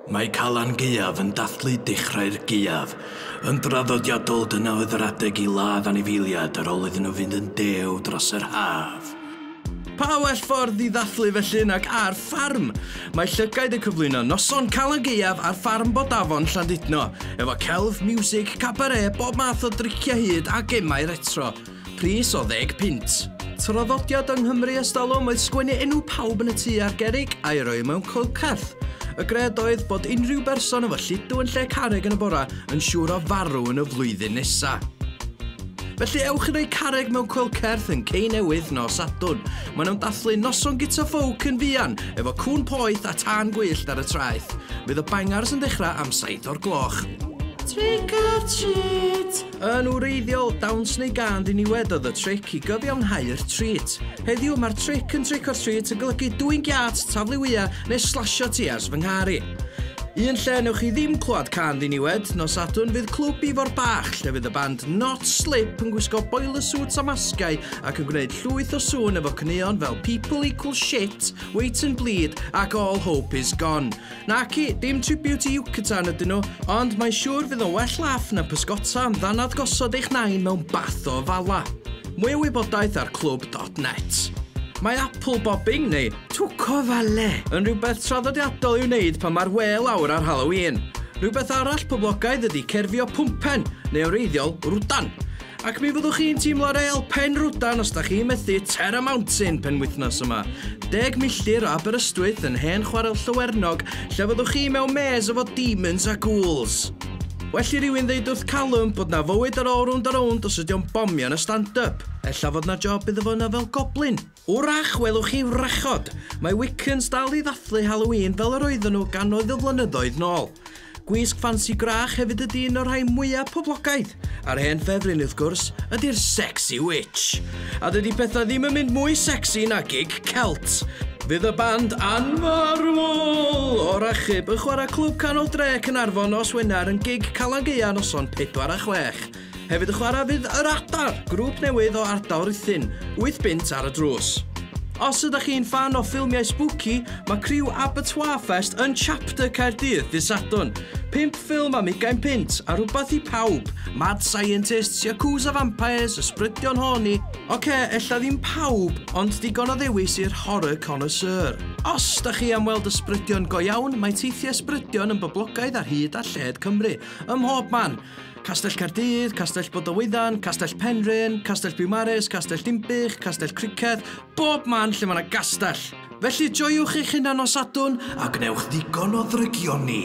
Mae Calan Gaeaf yn dathlu dechrau'r gaeaf. Yn draddodiadol, dyna oedd yr adeg i ladd anifeiliaid ar ôl iddyn nhw fynd yn dew dros yr haf. Pa well ffordd i ddathlu felly nag ar ffarm? Mae llygaid yn cyflwyno noson Calan Gaeaf ar ffarm Bodafon, Llandudno, efo celf, miwsig, cabaret, bob math o driciau hud a gemau retro. Pris o ddeg punt. Traddodiad yng Nghymru ers talwm oedd sgwennu enw pawb yn y tŷ ar gerrig a'i roi mewn coelcerth. Y gred oedd bod unrhyw berson efo lludw yn lle carreg yn y bora yn siŵr o farw yn y flwyddyn nesa. Felly ewch i roi carreg mewn coelcerth yn Cei Newydd nos Sadwrn. Maen nhw'n dathlu noson gita ffowc yn fuan, efo cŵn poeth a tân gwyllt ar y traeth. Fydd y bangars yn dechrau am saith o'r gloch. Trick or treat! Yn wreiddiol, dawns neu gân ddiniwed oedd y tric i gyfiawnhau'r trît. Heddiw, mae'r tric yn trick or treat yn golygu dwyn giât, taflu wya, neu slasio ti ers fy nghar i. Un lle newch chi ddim clywed cân ddiniwed, nos Sadwrn fydd Clwb Ifor Bach lle fydd y band Not Slip yn gwisgo boiler suits a masgiau ac yn gwneud llwyth o sŵn efo caneuon fel People Equal Shit, Wait and Bleed ac All Hope Is Gone. Naci, dim tribute i Yucatan ydyn nhw, ond mae'n siŵr fydd o'n well laff na pysgota am ddannedd gosod eich nain mewn bath o ofala. Mwy o wybodaeth ar clwb dot net. Mae apple bobbing, neu twc o ofale, yn rhywbeth traddodiadol i'w wneud pan mae'r wê lawr ar Halloween. Rhywbeth arall poblogaidd ydy cerfio pwmpen, neu o wreiddiol, rwdan. Ac mi fyddwch chi'n teimlo real penrhwdan os da chi'n methu Terra Mountain penwythnos yma. Deg milltir o Aberystwyth yn hen chwarel Llywernog lle fyddwch chi mewn mês efo demons a ghouls. Well i rywun ddeud wrth Callum bod na fywyd ar ôl rownd a rownd os ydi o'n bomio yn y stand-up. Ella fod na job iddo fo yna fel goblin. Wrach welwch chi wrachod, mae Wiccans dal i ddathlu Halloween fel yr oedden nhw gannoedd o flynyddoedd nôl. Gwisg ffansi gwrach hefyd ydi un o'r rhai mwyaf poblogaidd, a'r hen ffefryn, wrth gwrs, ydi'r Sexy Witch. A dydi pethau ddim yn mynd mwy sexy na gig Celt. Fydd y band anfarwol o'r achub yn chwarae Clwb Canol Dre, Caernarfon nos Wener yn gig Calan Gaea noson pedwar a chwech. Hefyd y chwarae fydd Yr Adar, grŵp newydd o ardal Rhuthun, wyth bunt ar y drws. Os ydach chi'n ffan o ffilmiau spooky, mae criw Abertoir Fest yn Chapter Caerdydd ddydd Sadwrn. Pump ffilm am ugain punt, a rhywbeth i pawb! Mad Scientists, Yakuza Vampires, Ysbrydion Horny. Ok, ella ddim pawb, ond digon o ddewis i'r horror connoisseur. Os da chi am weld ysbrydion go iawn, mae teithiau ysbrydion yn boblogaidd ar hyd a lled Cymru, ym mhob man. Castell Caerdydd, Castell Bodewyddon, Castell Penrhyn, Castell Biwmaris, Castell Dimbych, Castell Criceth, bob man lle mae yna gastell. Felly joiwch eich hunan o Sadwn a gwnewch ddigon o ddrygioni.